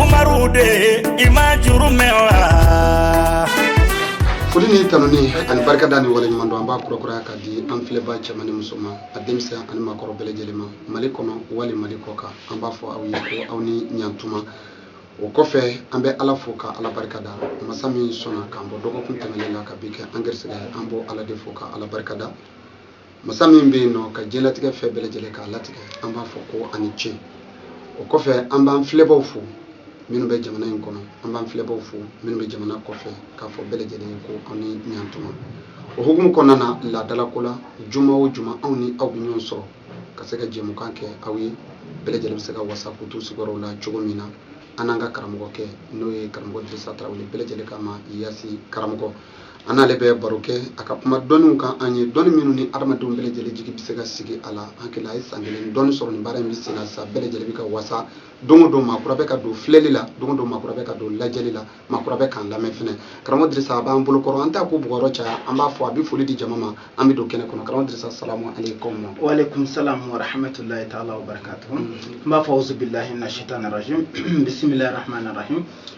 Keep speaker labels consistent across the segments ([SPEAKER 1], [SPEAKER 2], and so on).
[SPEAKER 1] Umaru de i ma juru mɛn wa foli ni tanuni ani barikada ni waleɲumandɔn an b'a kurakuraya ka di an filɛba cɛman ni musoman a denmisɛn ani maakɔrɔ bɛɛ lajɛlen ma mali kɔnɔ wali mali kɔ kan an b'a fɔ aw ye ko aw ni ɲantuma o kɔfɛ an bɛ ala fo ka ala barika da masa min sɔnna k'an bɔ dɔgɔkun tɛmɛnen la ka bi kɛ an gɛrisigɛ ye an b'o ala de fo ka ala barika da masa min bɛ yen nɔ ka diɲɛlatigɛ fɛn bɛɛ lajɛlen k'a latigɛ an b'a fɔ ko ani ce o kɔfɛ an b'an filɛbaw fo minnu bɛ jamana in kɔnɔ an b'an filɛbaw fo minnu bɛ jamana kɔfɛ k'a fɔ bɛɛ lajɛlen ye ko aw ni ɲantuma o hukumu kɔnɔna na laadalako la juma o juma anw ni aw bɛ ɲɔgɔn sɔrɔ ka se ka jɛmukan kɛ aw ye bɛɛ lajɛlen bɛ se ka wasa k'u t'u sigiyɔrɔw la cogo min na an n'an ka karamɔgɔkɛ n'o ye karamɔgɔ dirisa tarawele bɛɛ lajɛlen k'a ma yasi karamɔgɔ an n'ale bɛ baro kɛ a ka kuma dɔnniw kan an ye dɔnni minnu ni adamadenw bɛɛ lajɛlen jigi bɛ se ka sigi a la an kɛlɛ a ye san kelen dɔɔni sɔrɔ nin baara in bɛ senna sa bɛɛ lajɛlen bɛ ka wasa don o don maakura bɛ ka don filɛli la don o don maakura bɛ ka don lajɛli la maakura bɛ k'an lamɛn fɛnɛ karamɔgɔ dirisa a b'an bolo kɔrɔ an t'a ko bugɔrɔ caya an b'a fɔ a bɛ foli di jama ma an bɛ don kɛnɛ kɔnɔ karamɔgɔ dirisa salamu aleykum wa aleykum salam wa rahmatulahi taala wa barakatuhu n b'a fɔ awuzubilahi mina shaitan rajim bisimilahi rahmani rahim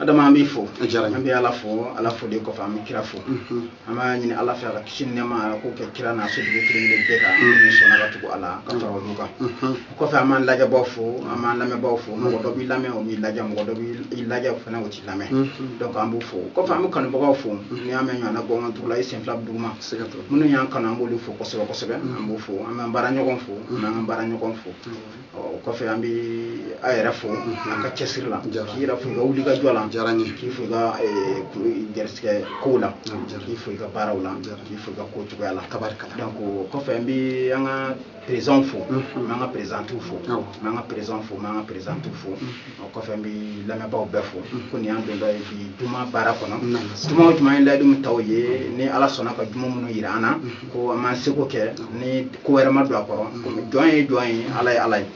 [SPEAKER 1] adama an b'i fo a diyara an bɛ ala fo ala fo de kɔfɛ an bɛ kira fo an b'a ɲini ala fɛ a ka kisi ni nɛɛma ala k'o kɛ kira n'a sojugu kelen kelen bɛɛ kan min sɔnna ka tugu a la ka fara olu kan o kɔfɛ an b'an lajɛbaw fo an b'an lamɛnbaw fo mɔgɔ dɔ b'i lamɛn o t'i lajɛ mɔgɔ dɔ b'i lajɛ o fana o t'i lamɛn donc an b'u fo o kɔfɛ an bɛ kanubagaw fo n'i y'a mɛn ɲɔgɔnna gɔngɔn tugu la i sen fila bɛ duguma minnu y'an kanu an b'olu fo kosɛbɛ kosɛbɛ an b'u fo an b'an baara ɲɔgɔn fo an b'an ka baara ɲɔgɔn fo o kɔfɛ an bɛ an yɛrɛ fo an ka cɛsiri la k'i yɛrɛ fo i ka wulikajɔ la k'i fo i ka garisigɛ kow la k'i fo i ka baaraw la k'i fo i ka ko cogoya la donc o kɔfɛ an bɛ an ka perezanw fo an ka perezantiw fo an ka perezanw fo an ka perezantiw fo o kɔfɛ n bɛ lamɛnbaaw bɛɛ fo ko nin y'an dontɔ ye bi juma baara kɔnɔ juma o juma ye layidu min t'aw ye ni ala sɔnna ka juma minnu yira an na ko an b'an seko kɛ ni ko wɛrɛ ma don a kɔrɔ komi jɔn ye jɔn ye ala ye ala ye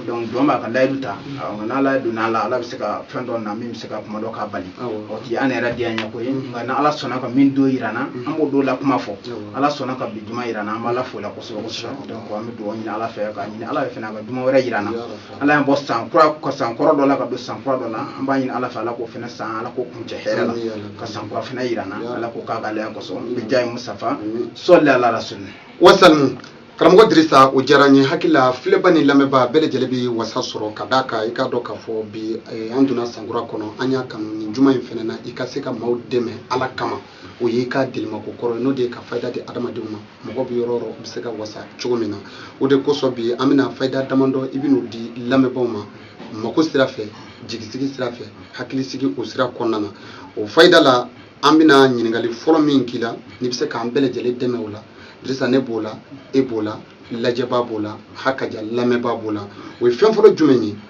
[SPEAKER 1] donc jɔn b'a ka layidu ta nka n'ala donna a la ala bɛ se ka fɛn dɔ na min bɛ se ka kuma dɔ k'a bali o ti an yɛrɛ diyanyeko ye nka ni ala sɔnna ka min don yira an na an b'o don la kuma fɔ ala sɔnna ka bi juma yira an na an b'ala fo o la kosɛbɛ kosɛbɛ donc an bɛ dugawu ɲini ala fɛ ka ɲini ala fɛ fana ka juma wɛrɛ yira an na ala y'an bɔ san kura ka san kɔrɔ dɔ la ka don san kura dɔ la an b'a ɲini ala fɛ ala k'o fana san ala k'o kuncɛ hɛrɛ la ka san kura fana yira an na ala k'o k'a k'alaya kosɔn bijahi musitafa sɔli ala rasuli wasalin karamɔgɔ dirisa o diyara n ye n hakili la filɛba ni lamɛnba bɛɛ lajɛlen bɛ wasa sɔrɔ ka d'a kan i k'a dɔn k'a fɔ bi eh, an donna sankura kɔnɔ an y'a kanu nin juma in fana na i ka se ka maaw dɛmɛ ala kama o y'i ka delimako kɔrɔ ye n'o de ye ka fayida di adamadenw ma mɔgɔ bɛ yɔrɔ yɔrɔ bɛ se ka wasa cogo min na o de kosɔn bi an bɛna fayida damadɔ i bɛn'o di lamɛnbaaw ma mako sira fɛ jigisigi sira fɛ hakilisigi o sira kɔnɔna na o fayida la an bɛna ɲininkali fɔlɔ min k'i la n'i bɛ se k'an bɛɛ lajɛlen dɛmɛ o la dirisa ne b'o la e b'o la lajɛbaa b'o la hakaja lamɛnbaa b'o la o ye fɛn fɔlɔ jumɛn ye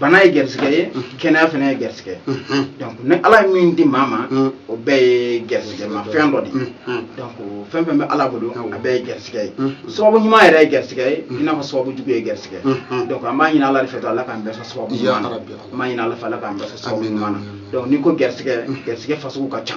[SPEAKER 1] bana ye garisigɛ ye kɛnɛya fana ye garisigɛ ye donc ni ala ye min di maa ma o bɛɛ ye garisigɛ ma fɛn dɔ de ye donc fɛn fɛn bɛ ala bolo a bɛɛ ye garisigɛ ye sababu ɲuman yɛrɛ ye garisigɛ ye i n'a fɔ sababu jugu ye garisigɛ ye donc an b'a ɲini ala de fɛ to ala k'an bɛɛ sɔn sababu ɲuman na an b'a ɲini ala fɛ ala k'an bɛɛ sɔn sababu ɲuman na donc n'i ko garisigɛ garisigɛ fasugu ka ca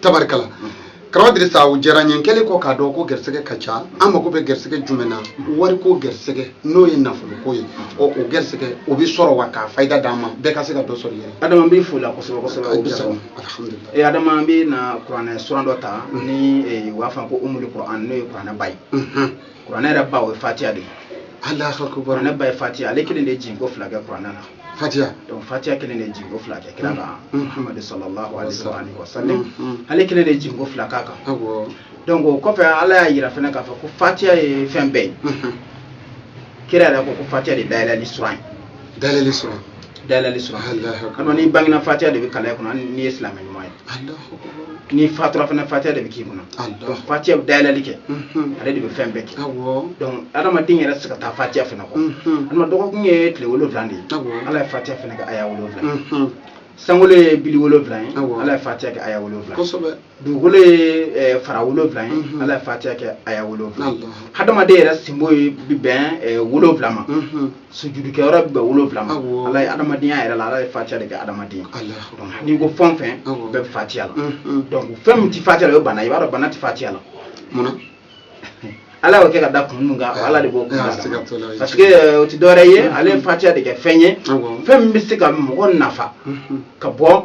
[SPEAKER 1] tabarikala karamɔgɔ sa o diyara n ye kɛlen kɔ k'a dɔn ko garisɛgɛ ka ca an mako bɛ garisɛgɛ jumɛn na wariko garisɛgɛ n'o ye nafoloko ye ɔ o garisɛgɛ o bɛ sɔrɔ wa k'a fayida d'an ma bɛɛ ka se ka dɔ sɔrɔ yɛrɛ adama bɛ fo la kosɛbɛ kosɛbɛ o diyara n ye adama an bɛ na kuranɛ suran dɔ ta ni eh, u b'a fɔ ko umuli kuran n'o ye kuranɛ ba ye kuranɛ yɛrɛ ba o ye fatiya de ye kuranɛ ba ye fatiya ale kelen de ye jiginko fila kɛ kuranɛ na fatiya donc fatiya kelen de jiginko fila kɛ kira kan muhamadu sallallahu alaihi wa sallam ale kelen de jiginko fila k'a kan donc o kɔfɛ ala y'a yira fana k'a fɔ ko fatiya ye fɛn bɛɛ ye kira yɛrɛ ko ko fatiya de dayɛlɛli suran ye dayɛlɛli suran dayɛlɛli suran n'i bangena fatiya de bɛ kalan i kunna n'i ye silamɛ ɲuman ye n'i fatura fana fatiya de bɛ k'i kunna donc fatiya bɛ dayɛlɛli kɛ ale de bɛ fɛn bɛɛ kɛ donc adamaden yɛrɛ tɛ se ka taa fatiya fana kɔ adama dɔgɔkun ye tile wolonwula de ye ala ye fatiya fana kɛ aya wolonwula sankolo ye bili wolonwula ye ala ye fatiya kɛ aya wolonwula dugukolo ye eh, fara wolonwula ye mhm. ala ye fatiya kɛ aya wolonwula hadamaden yɛrɛ sinbo ye bɛ bɛn eh, wolonwula ma mhm. sujudukɛ yɔrɔ bɛ bɛn wolonwula ma ala ye adamadenya yɛrɛ la ala ye fatiya de kɛ adamaden n'i ko fɛn fɛn bɛɛ bɛ fatiya la donc fɛn min tɛ fatiya la o ye bana i b'a dɔn bana tɛ fatiya la munna ala y'o kɛ ka da kun min kan ala de b'o kun dɔn parce que euh, o tɛ dɔwɛrɛ ye ala ye fatiya de kɛ fɛn ye fɛn min bɛ se ka mɔgɔ nafa ka bɔ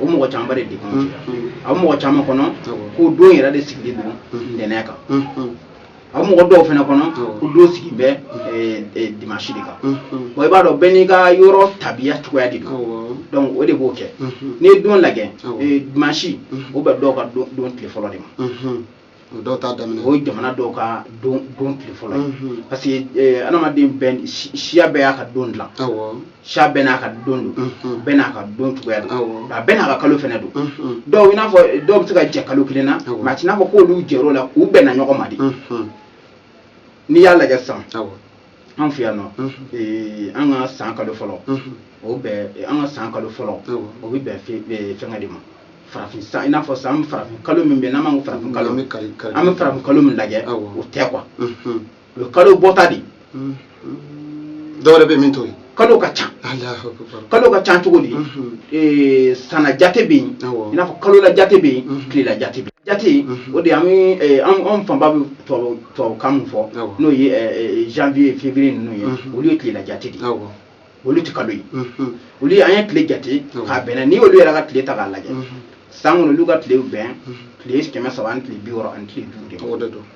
[SPEAKER 1] o mɔgɔ camanba de degun mm, sera mm. a bɛ mɔgɔ caman kɔnɔ ko don yɛrɛ de sigilen don mm. ntɛnɛn kan a bɛ mɔgɔ dɔw fana kɔnɔ ko don sigi bɛ eh, eh, dimansi de kan bon i b'a dɔn bɛɛ n'i ka yɔrɔ tabiya cogoya de don donc o de b'o kɛ n'i ye don lajɛ eh, dimansi o bɛ dɔw ka don tile fɔlɔ de ma o dɔw t'a daminɛ o ye jamana dɔw ka don don tile fɔlɔ ye parce que adamaden bɛɛ siya bɛɛ y'a ka don dilan siya bɛɛ n'a ka don don bɛɛ n'a ka don cogoya don a bɛɛ n'a ka kalo fana don dɔw n'a fɔ dɔw bɛ se ka jɛ kalo kelen na mais a tɛ n'a fɔ k'olu jɛla k'u bɛnna ɲɔgɔn ma dɛ n'i y'a lajɛ san an fɛ yan nɔ eh, an ka san kalo fɔlɔ o bɛn eh, an ka san kalo fɔlɔ o bɛ bɛn eh, fɛngɛ de ma farafin san i n'a fɔ san farafin kalo min bɛ yen n'an b'a ko farafin kalo an bɛ farafin kalo min lajɛ o tɛ kuwa o ye kalo bɔta de ye dɔwɛrɛ bɛ min to yen kalo ka ca kalo ka ca cogo di eh, sanna jate bɛ yen i n'a fɔ kalola jate bɛ yen tilela jate bɛ jate o de an eh, anw fanba bɛ tubabukan min fɔ n'o ye eh, janvier février ninnu ye olu ye tilela jate de olu tɛ kalo ye olu ye an ye tile jate k'a bɛnna n'i y'olu yɛrɛ ka tile ta k'a lajɛ san kɔnɔ olu ka tile bɛn tile kɛmɛ saba ani tile bi wɔɔrɔ ani tile duuru de ma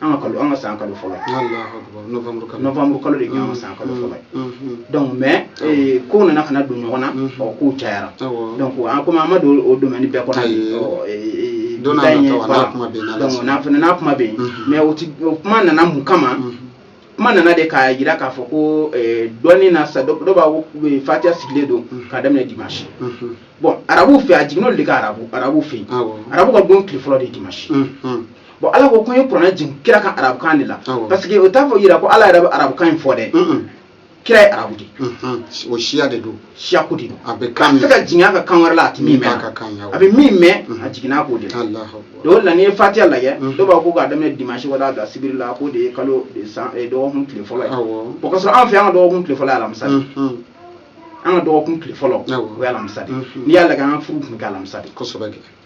[SPEAKER 1] an ka kalo an ka san kalo fɔlɔ novembre kalo de an ka san kalo fɔlɔ donc mais kow nana ka na don ɲɔgɔn na mɔgɔ ko cayara donc an komi an ma don o domaine bɛɛ kɔnɔ n'a kuma bɛ yen mais o kuma nana mun kama kuma nana de k'a jira k'a fɔ ko eh, dɔnni na sa dɔ b'a ko eh, fatiya sigilen don mm. k'a daminɛ dimanche mm-hmm. bon arabu fɛ a jiginn'olu de kan arabu arabu fɛ yen arabu ka don tile fɔlɔ de dimanche mm-hmm. bon ala ko ko n ye kuranɛ jigin kira kan arabukan de la parce que o t'a fɔ yira ko ala yɛrɛ bɛ arabukan in fɔ dɛ kira ye arabu de ye o siya de don siyako de don a bɛ kan tɛ ka jigin a kan kan wɛrɛ la a tɛ min mɛn a bɛ min mɛn a jiginna kan o de la o la n'i ye fatiya lajɛ dɔw b'a ko k'a daminɛ dimanche w'a dabila sibiri la k'o de ye kalo san dɔgɔkun tile fɔlɔ ye o k'a sɔrɔ an fɛ an ka dɔgɔkun tile fɔlɔ ye alamisa de an ka dɔgɔkun tile fɔlɔ o ye alamisa de n'i y'a lajɛ an ka furu tun bɛ kɛ alamisa de kosɛbɛ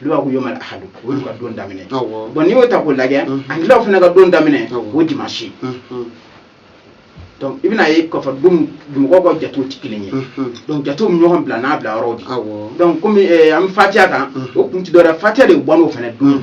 [SPEAKER 1] olu b'a ko yomal ahadu o y'u ka don daminɛ bon n'i y'o ta k'o lajɛ angilɛw fana ka don daminɛ o dimansi donc i bɛn'a ye k'a fɔ don mɔgɔw ka jatew tɛ kelen ye donc jatew bɛ ɲɔgɔn bila n'a bila yɔrɔw de donc komi an bɛ fatiya kan o kun tɛ dɔwɛrɛ fatiya de bɔ n'o fana don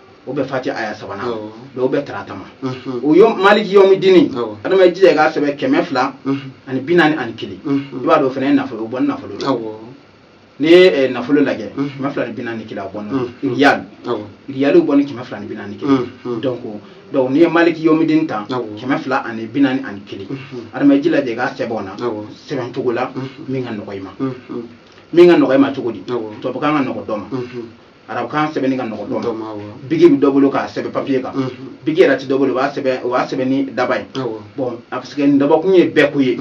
[SPEAKER 1] o bɛ fati aya sabanan o bɛ tarata ma o ye maliki yɔmi dini adama ji k'a sɛbɛn kɛmɛ fila ani bi naani ani kelen i b'a dɔn fana ye nafolo bɔ nafolo n'i ye nafolo lajɛ kɛmɛ fila ni bi naani kelen bɔ ya yali bɔ ni kɛmɛ fila ni bi naani kelen dɔn ko dɔnku n'i ye maliki yɔmi dini ta kɛmɛ fila ani bi naani ani kelen adama ji lajɛ k'a sɛbɛn n'a sɛbɛn cogo la min ka nɔgɔ i ma min ka nɔgɔ i ma cogo di to ka nɔgɔ dɔ ma arabukan sɛbɛnni ka nɔgɔ dɔ ma biki bɛ dɔ bolo k'a sɛbɛn papiye kan biki yɛrɛ tɛ dɔ bolo o b'a sɛbɛn o b'a sɛbɛn ni daba ye parce que nin dabakun ye bɛɛ ko ye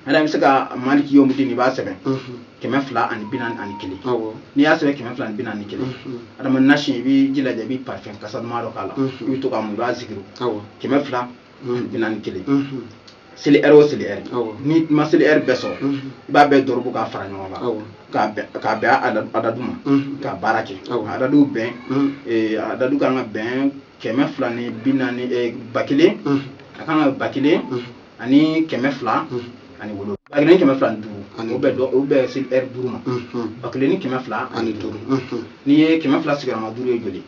[SPEAKER 1] adama bɛ se ka maliki yɔmi dini b'a sɛbɛn kɛmɛ fila ani bi naani ani kelen n'i y'a sɛbɛn kɛmɛ fila ni bi naani ni kelen adama nasi i b'a ji lajɛ i bɛ parfum kasa dɔ k'a la i bɛ to k'a mun i b'a sigi kɛmɛ fila bi naani ni kelen seli lɛri o seli lɛri n'i ma seli lɛri bɛɛ sɔrɔ i b'a bɛɛ dɔrɔbu k'a fara ɲɔgɔn kan k'a bɛn adadu ma k'a baara kɛ adadu bɛn adadu kan ka bɛn kɛmɛ fila ni bi naani ba kelen a kan ka ba kelen ani kɛmɛ fila ani wolo ba kelen kɛmɛ fila ni duuru ani bɛ dɔn o bɛ seli lɛri duuru ma ba kelen ni kɛmɛ fila ani duuru n'i ye kɛmɛ fila sigiyɔrɔma duuru ye joli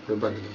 [SPEAKER 1] o ye ba kelen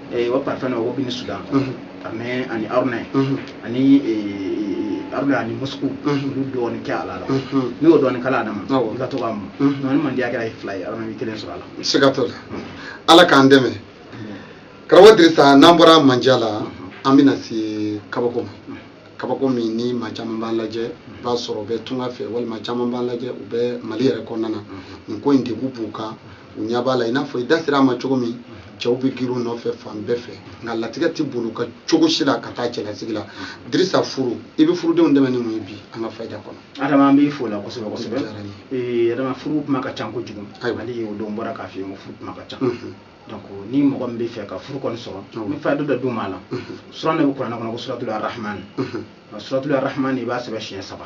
[SPEAKER 1] eh, o parfɛn na o bini sudan mhm. ka mɛn ani aruna ye mhm. ani eh, aruna ani mosku olu dɔɔni kɛ a la la n'i y'o dɔɔni k'a la a dama i ka to k'a mun ni mandiya kɛra ye fila ye aruna bɛ kelen sɔrɔ a la siga t'o la ala k'an dɛmɛ karamɔgɔ dirisa n'an bɔra mandiya la an bɛna se kabako ma kabako min ni maa caman b'an lajɛ i b'a sɔrɔ u bɛ tunga fɛ walima caman b'an lajɛ u bɛ mali yɛrɛ kɔnɔna na nin ko in degun b'u kan u ɲɛ b'a la i n'a fɔ i da sera a ma cogo min cɛw bɛ girin u nɔfɛ fan bɛɛ fɛ nka latigɛ tɛ boli u kan cogo si la ka taa cɛlasigi la dirisa furu i bɛ furudenw dɛmɛ ni mun ye bi an ka fayida kɔnɔ adama an b'i fo la kosɛbɛ kosɛbɛ ee adama furu kuma ka ca kojugu hali o don bɔra k'a f'i ye ko furu kuma ka ca donc ni mɔgɔ min b'a fɛ ka furu kɔni sɔrɔ n bɛ fayida dɔ d'u ma a la suran de bɛ kuranɛ kɔnɔ ko suratul arahman suratul arahman i b'a sɛbɛn siɲɛ saba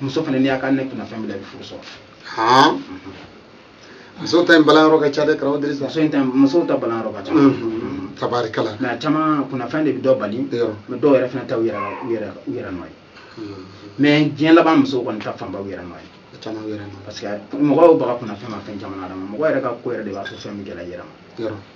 [SPEAKER 1] muso fana n'i y'a kɛ hali ni kunnafɛn b'i la i bɛ furu sɔrɔ han mhm. musow ta in balanyɔrɔ ka ca dɛ karamɔgɔ dirisa muso in ta musow ta balanyɔrɔ ka ca mhm. tabarikala mais a caman kunnafɛn de bɛ dɔ bali mais dɔw yɛrɛ fana ta u yɛrɛ u yɛrɛ u yɛrɛ nɔ ye mhm. mais diɲɛ laban musow kɔni ta fanba u yɛrɛ nɔ ye caman yɛrɛ nɔ parce que mɔgɔw baga kunnafɛn ma fɛn caman na mɔgɔ yɛrɛ ka ko yɛrɛ de b'a to fɛn bɛ gɛlɛya yɛrɛ ma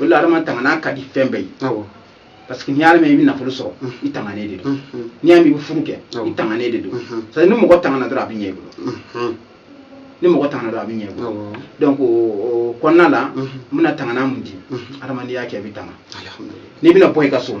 [SPEAKER 1] o la adama tangana ka di fɛn bɛɛ ye parce que n'i y'a mɛn i bɛ nafolo sɔrɔ i tanganen de don n'i y'a mɛn i bɛ furu kɛ i tanganen de don c'est ni mɔgɔ tangana dɔrɔn a bɛ ɲɛ i bolo ni mɔgɔ tangana dɔrɔn a bɛ ɲɛ i bolo donc o kɔnɔna la n bɛna tangana min di adama n'i y'a kɛ i bɛ tanga n'i bɛna bɔ i ka so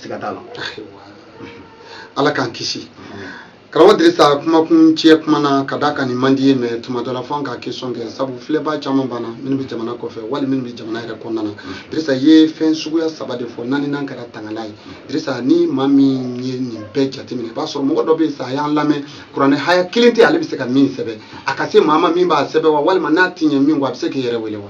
[SPEAKER 1] siga t'a la ala k'an kisi karamɔgɔ dirisa kumakun tiɲɛ kuma na ka da ka nin man di ye mɛ tuma dɔ la fo an ka kesɔn kɛ sabu filɛbaa caman b'an na minnu bɛ jamana kɔfɛ wali minnu bɛ jamana yɛrɛ kɔnɔna na dirisa ye fɛn suguya saba de fɔ naaninan kɛra tangana ye dirisa ni maa min ye nin bɛɛ jateminɛ i b'a sɔrɔ mɔgɔ dɔ bɛ yen sa a y'an lamɛn kuranɛ haya kelen tɛ ale bɛ se ka min sɛbɛn a ka se maa ma min b'a sɛbɛn wa walima n'a tɛ ɲɛ min kɔ a bɛ se k'i yɛrɛ wele wa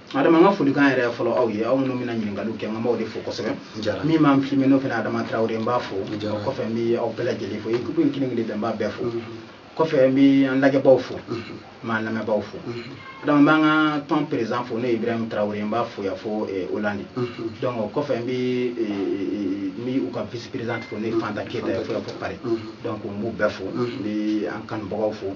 [SPEAKER 1] adama an ka folikan yɛrɛ fɔlɔ aw ye aw minnu bɛna ɲininkaliw kɛ n b'aw de fo kosɛbɛ min b'an filime n'o fana adama tarawele n b'a fo kɔfɛ n bɛ aw bɛɛ lajɛlen fo ekipu in kelen kelen bɛɛ n b'a bɛɛ fo kɔfɛ n bɛ an lajɛbaaw fo n b'an lamɛnbaaw fo adama n b'an ka tɔn perezidan fo n'o ye ibrahim tarawele n b'a fo yan fo olandi donc o kɔfɛ n bɛ n bɛ u ka vice perezidan fo n'o ye fanta keyita ye fo yan fo pari donc n b'u bɛɛ fo n bɛ an kanubagaw fo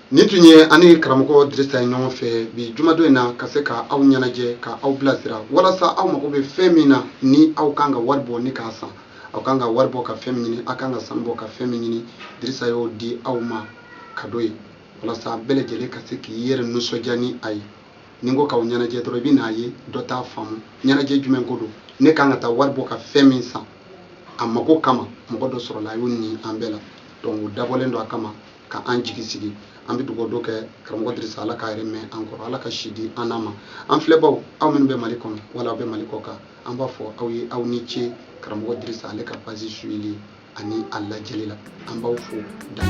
[SPEAKER 1] nin tun ye an ni karamɔgɔ dirisa ye ɲɔgɔn fɛ bi jumadon in na ka se ka aw ɲɛnajɛ ka aw bilasira walasa aw mago bɛ fɛn min na ni aw kan ka wari bɔ ni k'a san aw kan ka wari bɔ ka fɛn min ɲini aw kan ka sanu bɔ ka fɛn min ɲini dirisa y'o di aw ma kado ye walasa bɛɛ lajɛlen ka se k'i yɛrɛ nisɔndiya ni a ye ni n ko k'aw ɲɛnajɛ dɔrɔn i bɛn'a ye dɔ t'a faamu ɲɛnajɛ jumɛn ko don ne kan ka taa wari bɔ ka fɛn min san a mago kama mɔgɔ dɔ sɔrɔla a y'o ni an bɛɛ la donc o dabɔlen don a kama ka an jigi sigi an bɛ dugawu dɔ kɛ karamɔgɔ dirisa ala k'a yɛrɛ mɛɛn an kɔrɔ ala ka si di an n'a ma an filɛbaw aw minnu bɛ mali kɔnɔ wala aw bɛ mali kɔkan an b'a fɔ aw ye aw ni ce karamɔgɔ dirisa ale ka page suivili ani a lajɛli la an b'aw fo dan